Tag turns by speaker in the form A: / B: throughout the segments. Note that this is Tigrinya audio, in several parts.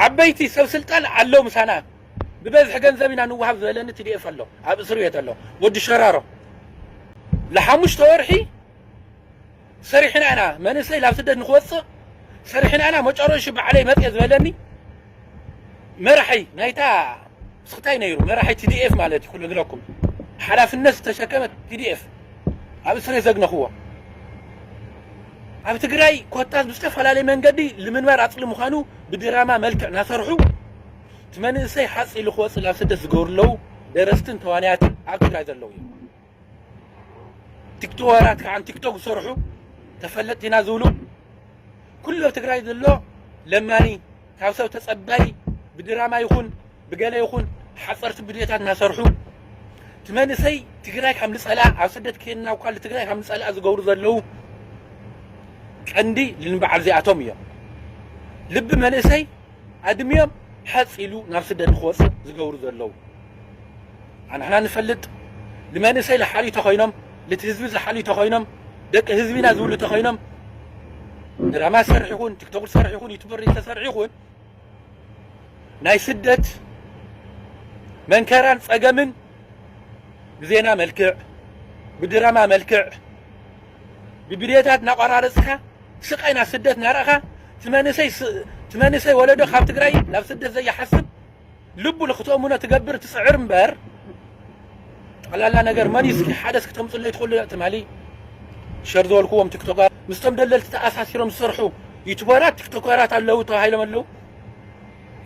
A: ዓበይቲ ሰብ ስልጣን ኣለው ምሳና ብበዝሒ ገንዘብ ኢና ንወሃብ ዝበለኒ ትዲኤፍ ኣሎ ኣብ እስር ቤት ኣሎ ወዲ ሸራሮ ንሓሙሽተ ወርሒ ሰሪሕና ኢና መንእሰይ ናብ ስደት ንክወፅእ ሰሪሕና ኢና መጨረሹ ባዕለይ መፅየ ዝበለኒ መራሒ ናይታ ስክታይ ነይሩ መራሒ TDF ማለት እዩ ክነግረኩም ሓላፍነት ዝተሸከመ TDF ኣብ እስርየ ዘግነክዎ ኣብ ትግራይ ኮታስ ብዝተፈላለየ መንገዲ ልምንባር ኣፅሊ ምዃኑ ብድራማ መልክዕ ናሰርሑ እቲ መንእሰይ ሓፅ ኢሉ ክወፅእ ናብ ስደት ዝገብሩ ኣለዉ ደረስትን ተዋንያትን ኣብ ትግራይ ዘለዉ እዮም ቲክቶራት ከዓ ቲክቶክ ዝሰርሑ ተፈለጥቲ ኢና ዝብሉ ኩሉ ኣብ ትግራይ ዘሎ ለማኒ ካብ ሰብ ተፀባይ ብድራማ ይኹን ብገለ ይኹን ሓፀርቲ ብድዮታት እናሰርሑ እቲ መንእሰይ ትግራይ ካብ ንፀልኣ ኣብ ስደት ከይድና እኳ ትግራይ ካብ ንፀልኣ ዝገብሩ ዘለዉ ቀንዲ ልንበዓል እዚኣቶም እዮም ልቢ መንእሰይ ኣድሚዮም ሓፅ ኢሉ ናብ ስደት ንክወፅእ ዝገብሩ ዘለዉ ኣንሕና ንፈልጥ ንመንእሰይ ልሓልዩ ተኾይኖም ልቲ ህዝቢ ዝሓልዩ ተኾይኖም ደቂ ህዝቢ ኢና ዝብሉ ተኾይኖም ድራማ ዝሰርሕ ይኹን ቲክቶክ ዝሰርሕ ይኹን ዩቱበር ዝተሰርሕ ይኹን ናይ ስደት መንከራን ጸገምን ብዜና መልክዕ ብድራማ መልክዕ ብቪድዮታት እናቋራረፅካ ስቃይ ናብ ስደት እናረእኻ ትመንእሰይ ወለዶ ካብ ትግራይ ናብ ስደት ዘይሓስብ ልቡ ንክትእምኖ ትገብር ትጽዕር እምበር ጠቅላላ ነገር መን እዩ እስኪ ሓደ እስኪ ተምጽለይ ትኽእሉ ትማሊ ሸር ዝበልክዎም ቲክቶካት ምስቶም ደለልቲ ተኣሳሲሮም ዝሰርሑ ዩቱበራት ቲክቶከራት ኣለዉ ተባሂሎም ኣለዉ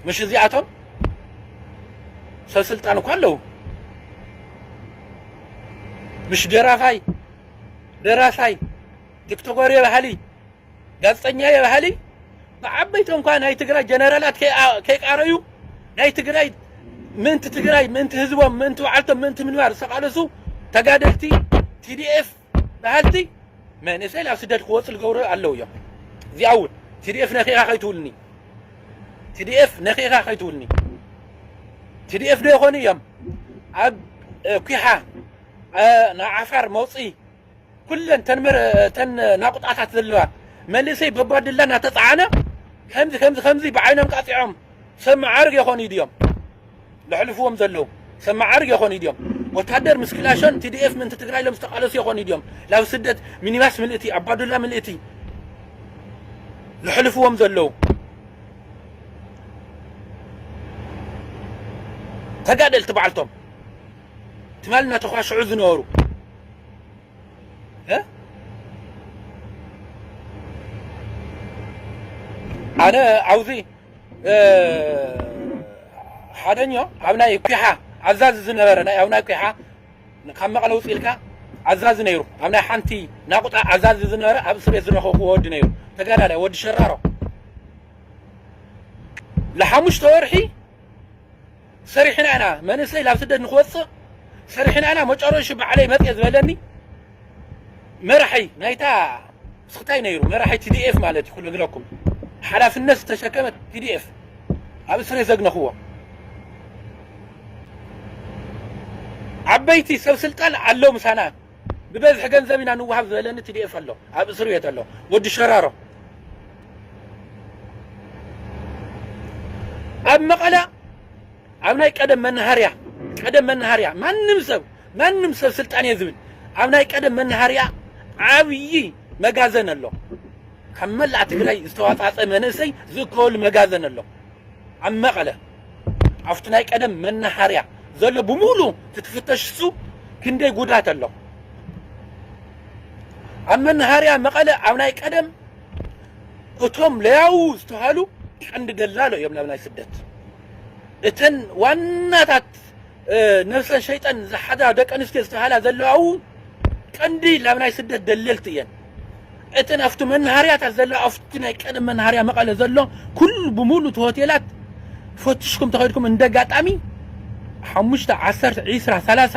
A: ምሽ እዚኣቶም ሰብስልጣን እኳ ኣለዉ ምሽ ደራፋይ ደራሳይ ቲክቶከር የባሃሊ ጋዝጠኛየ በሃሊ ብዓበይቲ እንኳ ናይ ትግራይ ጀነራላት ከይቃረዩ ናይ ትግራይ ምእንቲ ትግራይ ምእንቲ ህዝቦም ምእንቲ በዓልቶም ምእንቲ ምንባር ዝተቃለሱ ተጋደልቲ ቲዲኤፍ በሃልቲ መንእሰይ ናብ ስደት ክወፁ ዝገብሩ ኣለዉ እዮም እዚኣ እውን ቲዲኤፍ ነኪኻ ከይትውልኒ ቲዲኤፍ ነኪኻ ከይትውልኒ ቲዲኤፍ ዶ ይኾኑ እዮም ኣብ ኩሓ ንዓፋር መውፅኢ ኩለን እተን ናቑጣታት ዘለዋ መንእሰይ በጓድላ እናተፀዓነ ከምዚ ከምዚ ከምዚ ብዓይኖም ቃፂዖም ሰብ መዓርግ የኾኑ ድዮም ለሕልፍዎም ዘለዉ ሰብ መዓርግ የኾኑ ድዮም ወታደር ምስ ክላሾን ቲዲኤፍ ምእንቲ ትግራይ ኢሎም ዝተቃለሱ የኾኑ ድዮም ላብ ስደት ሚኒባስ ምልእቲ ኣባዱላ ምልእቲ ለሕልፍዎም ዘለዉ ተጋደልቲ በዓልቶም ትማል እናተኳሸዑ ዝነበሩ ኣነ ኣብዙ ሓደኞ ኣብ ናይ ኩሓ ኣዛዚ ዝነበረ ናይ ኣብ ናይ ኩሓ ካብ መቐለ ውፅ ኢልካ ኣዛዚ ነይሩ ኣብ ናይ ሓንቲ ናቁጣ ኣዛዚ ዝነበረ ኣብ እስር ቤት ዝረኸብኩ ወዲ ነይሩ ተጋዳላይ ወዲ ሸራሮ ንሓሙሽተ ወርሒ ሰሪሕና ኢና መንእሰይ ላብ ስደት ንክወጽእ ሰሪሕና ኢና መጨረሹ ባዕለይ መጽየ ዝበለኒ መራሒ ናይታ ስክታይ ነይሩ መራሒ ቲዲኤፍ ማለት እዩ ኩሉ ግለኩም ሓላፍነት ዝተሸከመ ቲዲኤፍ ኣብ እስሬ ዘግነኽዎ ዓበይቲ ሰብ ስልጣን ኣለው ምሳና ብበዝሒ ገንዘብ ኢና ንወሃብ ዝበለኒ ትዲኤፍ ኣሎ ኣብ እስር ቤት ኣሎ ወዲ ሸራሮ ኣብ መቐለ ኣብ ናይ ቀደም መናሃርያ ቀደም መናሃርያ ማንም ሰብ ማንም ሰብ ስልጣን እየ ዝብል ኣብ ናይ ቀደም መናሃርያ ዓብዪ መጋዘን ኣሎ ካብ መላእ ትግራይ ዝተዋፃፀ መንእሰይ ዝእከበሉ መጋዘን ኣሎ ኣብ መቐለ ኣብቲ ናይ ቀደም መናሃርያ ዘሎ ብምሉ ትትፍተሽ እሱ ክንደይ ጉዳት ኣሎ ኣብ መናሃርያ መቐለ ኣብ ናይ ቀደም እቶም ለያው ዝተሃሉ ቀንዲ ደላሎ እዮም ናብ ናይ ስደት እተን ዋናታት ነብሰ ሸይጠን ዝሓዛ ደቂ ኣንስትዮ ዝተባህላ ዘለዋ እውን ቀንዲ ላብ ናይ ስደት ደለልቲ እየን። እተን ኣብቲ መናሃርያታት ዘለዋ ኣብቲ ናይ ቀደም መናሃርያ መቐለ ዘሎ ኩሉ ብሙሉ እቲ ሆቴላት ፈትሽኩም ተኸድኩም እንደ ኣጋጣሚ ሓሙሽተ ዓሰርተ ዒስራ ሰላሳ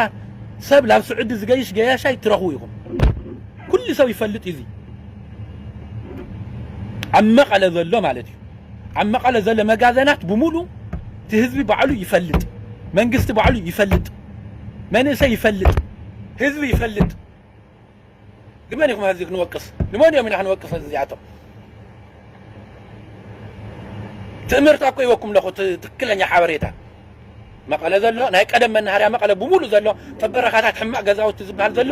A: ሰብ ላብ ስዑዲ ዝገይሽ ገያሻይ ትረኽቡ ኢኹም። ኩሉ ሰብ ይፈልጥ እዩ እዚ ኣብ መቐለ ዘሎ ማለት እዩ። ኣብ መቐለ ዘሎ መጋዘናት ብሙሉ እቲ ህዝቢ ባዕሉ ይፈልጥ መንግስቲ ባዕሉ ይፈልጥ መንእሰይ ይፈልጥ ህዝቢ ይፈልጥ ንመን ኢኹም ሀዚ ክንወቅስ ንመን እዮም ኢና ክንወቅስ እዚኣቶም ትእምርት ኣኮ ይወኩም ኣለኹ ትክክለኛ ሓበሬታ መቐለ ዘሎ ናይ ቀደም መናሃርያ መቐለ ብሙሉ ዘሎ ጥበረኻታት ሕማቕ ገዛውቲ ዝበሃል ዘሎ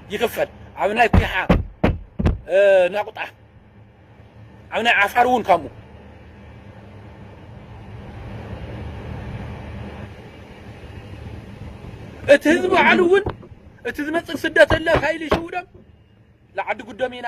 A: ይኽፈል ኣብ ናይ ኩሓ ናቁጣ ኣብ ናይ ዓፋር እውን ከምኡ እቲ ህዝቢ ባዕሉ እውን እቲ ዝመፅእ ስደተለ ፋይል ይሽውዶም ንዓዲ ጉዶም ኢና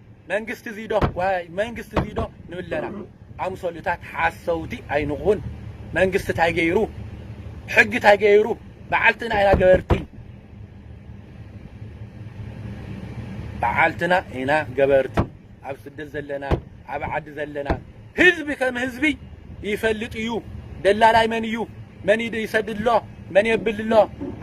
A: መንግስቲ እዙይ ዶ ዋይ መንግስቲ እዙይ ዶ ንብለና ኣምሰሉታት ሓሰውቲ ኣይንኹን መንግስቲ ታይ ገይሩ ሕጊ ታይ ገይሩ በዓልትና ኢና ገበርቲ በዓልትና ኢና ገበርቲ ኣብ ስደት ዘለና ኣብ ዓዲ ዘለና ህዝቢ ከም ህዝቢ ይፈልጥ እዩ ደላላይ መን እዩ መን ይድ- ይሰድድ ኣሎ መን የብል ኣሎ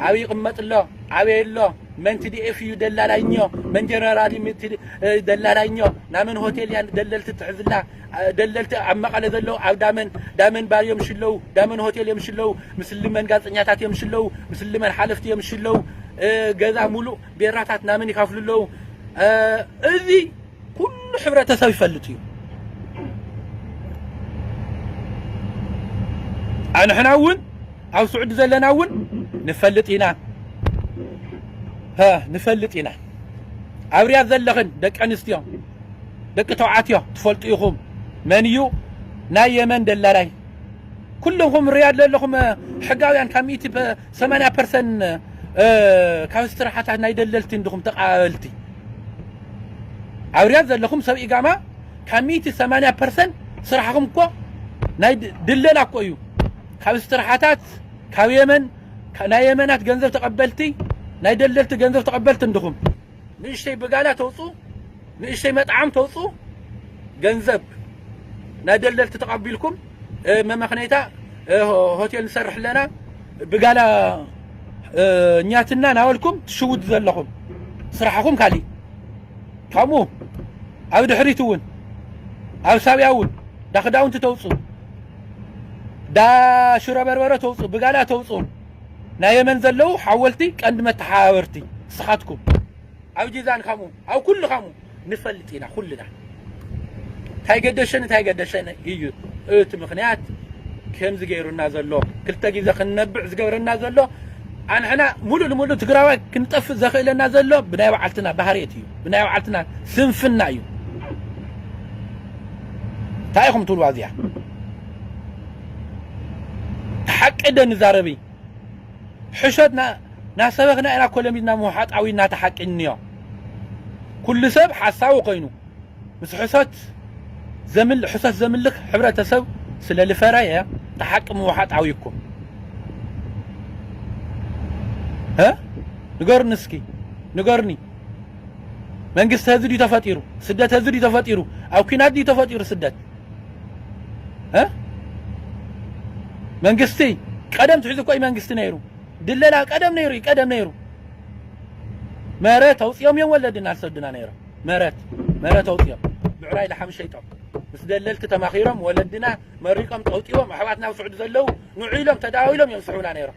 A: ኣበይ ይቕመጥ ኣሎ ኣበይ ኣሎ መን ቲዲኤፍ እዩ ደላላይኞ መን ጀነራል እዩ ቲ- እ፣ ደላላይኞ ናመን ሆቴል እያ ደለልቲ ትሕዝላ እ፣ ደለልቲ ኣብ መቐለ ዘለዉ ኣብ ዳመን ዳመን ባር እዮም ሽለዉ ዳመን ሆቴል እዮም ሽለዉ ምስሊ መን ጋዜጠኛታት እዮም ሽለዉ ምስሊ መን ሓለፍቲ እዮም ሽለዉ እ፣ ገዛ ሙሉእ ቤራታት ናመን ይከፍሉ ኣለዉ እ፣ እዚ ኩሉ ሕብረተሰብ ይፈልጥ እዩ ኣንሕና እውን ኣብ ስዑዲ ዘለና እውን ንፈልጥ ኢና ንፈልጥ ኢና ኣብ ርያድ ዘለኽን ደቂ ኣንስትዮ ደቂ ተባዕትዮ ትፈልጡ ኢኹም መን እዩ ናይ የመን ደላላይ ኩልኹም ርያድ ዘለኹም ሕጋውያን ካብ ሚእቲ ሰማንያ ፐርሰንት ካብ ስራሓታት ናይ ደለልቲ እንድኹም ተቐባበልቲ ኣውርያት ዘለኹም ሰብ ኢጋማ ካብ ሚእቲ ሰማንያ ፐርሰንት ስራሕኹም እኮ ናይ ድለላ እኮ እዩ ካብ እስትራሓታት ካብ የመን ናይ የመናት ገንዘብ ተቐበልቲ ናይ ደለልቲ ገንዘብ ተቐበልቲ እንድኹም ንእሽተይ ብጋላ ተውፅኡ ንእሽተይ መጥዓም ተውፅኡ ገንዘብ ናይ ደለልቲ ተቐቢልኩም መመኽነይታ ሆቴል ንሰርሕ ኣለና ብጋላ እኛትና ናበልኩም ትሽውዱ ዘለኹም ስራሕኹም ካሊእ ከምኡ ኣብ ድሕሪት እውን ኣብ ሳብያ እውን ዳ ክዳውንቲ ተውፅኡ ዳ ሽሮ በርበረ ተውፅኡ ብጋላ ተውፅኡ ናይ የመን ዘለዉ ሓወልቲ ቀንዲ መተሓባበርቲ ንስኻትኩም ኣብ ጂዛን ከምኡ ኣብ ኩሉ ከምኡ ንፈልጥ ኢና ኩልና እንታይ ገደሸን እንታይ ገደሸን እዩ እቲ ምክንያት ከምዚ ገይሩና ዘሎ ክልተ ግዜ ክንነብዕ ዝገብረና ዘሎ ኣንሕና ሙሉእ ንሙሉእ ትግራዋይ ክንጠፍእ ዘኽእለና ዘሎ ብናይ በዓልትና ባህርየት እዩ ብናይ በዓልትና ስንፍና እዩ እንታይ ኢኹም ትብልዋ እዚኣ ሓቂ ደ ንዛረብ ሕሾት ናሰበኽና ኢና ኮለሚድና ምውሓጥ ኣውዩና እቲ ሓቂ እንዮ ኩሉ ሰብ ሓሳዊ ኮይኑ ምስ ሕሶት ዘምል ሕሶት ዘምልኽ ሕብረተሰብ ስለ ልፈረየ እቲ ሓቂ ምውሓጥ ኣውዩኩም እ ንገሩኒ እስኪ ንገሩኒ መንግስቲ ህዚ ድዩ ተፈጢሩ ስደት ህዚ ድዩ ተፈጢሩ ኣብ ኩናት ድዩ ተፈጢሩ ስደት መንግስቲ ቀደም ትሕዙ እኮ እዩ መንግስቲ ነይሩ ድለላ ቀደም ነይሩ እዩ ቀደም ነይሩ መረት ኣውፅኦም እዮም ወለድና ዝሰዱና ነይሮም መረት መረት ኣውፅኦም ብዕራይ ልሓም ሸይጦም ምስ ደለልቲ ተማኺሮም ወለድና መሪቆም ጠውጢቦም ኣሕዋትና ኣብ ስዑዲ ዘለው ንዑ ኢሎም ተዳዊሎም እዮም ዝስሕቡና ነይሮም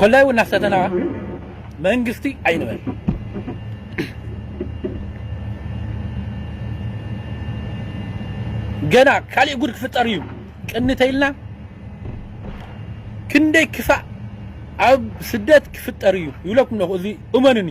A: ኮላይ እውን ናፍሰተና መንግስቲ ኣይንበል ገና ካልእ ጉድ ክፍጠር እዩ ቅኒ ተይልና ክንደይ ክፋእ ኣብ ስደት ክፍጠር እዩ ይብለኩም ኣለኹ እዚ እመኑኒ